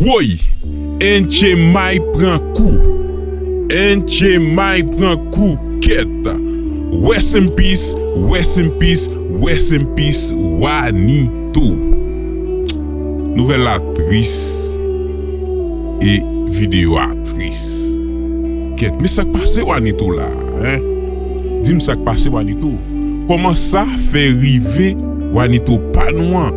Woy! Enchemay pran kou! Enchemay pran kou kèt! Rest in peace, rest in peace, rest in peace Wanito! Nouvèl la tris e videyo a tris kèt! Men sak pase Wanito la hein? Di m sak pase Wanito? Kòman sa fè rive Wanito pa nou an?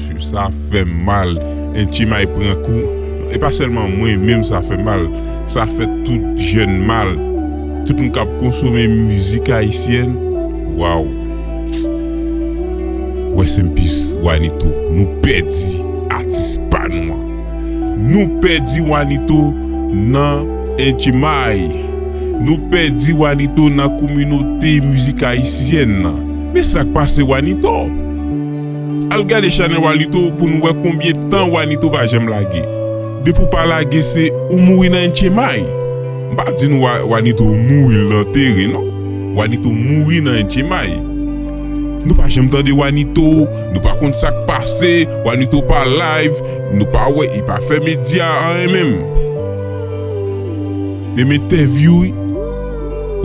Swiv sa fèm mal en tchimay pran kou e pa sèlman mwen menm sa fè mal sa fè tout jèn mal tout moun kap konsome mizik ayisyèn waw rest in peace wanito nou pèdi atis pa nou an nou pèdi wanito nan en tchimay nou pèdi wanito nan kominote mizik ayisyèn nan men sak pase wanito. Al gade chanel walito pou nou wè konbyen tan wanito pa janm lage depi ou pa lage se ou mouri nan yn tchemay m pa di nou wanito mouri l antere non wanito mouri nan yn tchemay nou pa janm tande wanito nou pa konn sak pase wanito pa live nou pa wè e pa fè media anyen menm menm entèvyou wi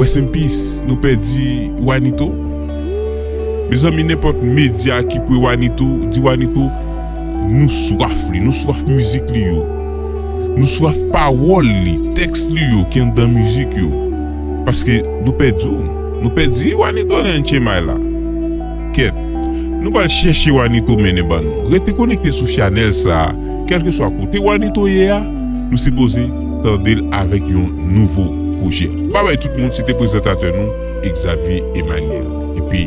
rest in peace nou pèdi wanito. Mezanmi nenpòt media ki pre wanito di wanito nou swaf li nou swaf mizik li yo nou swaf pawòl li tèks li yo ki anndan mizik yo paske nou pèdi w nou pèdi wanito li an chemay la kèt nou pral chèche wanito mennen ban nou rete konekte sou chanèl sa. Kèlkeswa kote wanito ye a nou sipoze tandel avèk yon nouvo pwojè. Babay tout moun se te prezantatè nou Xavier Emmanuel epi.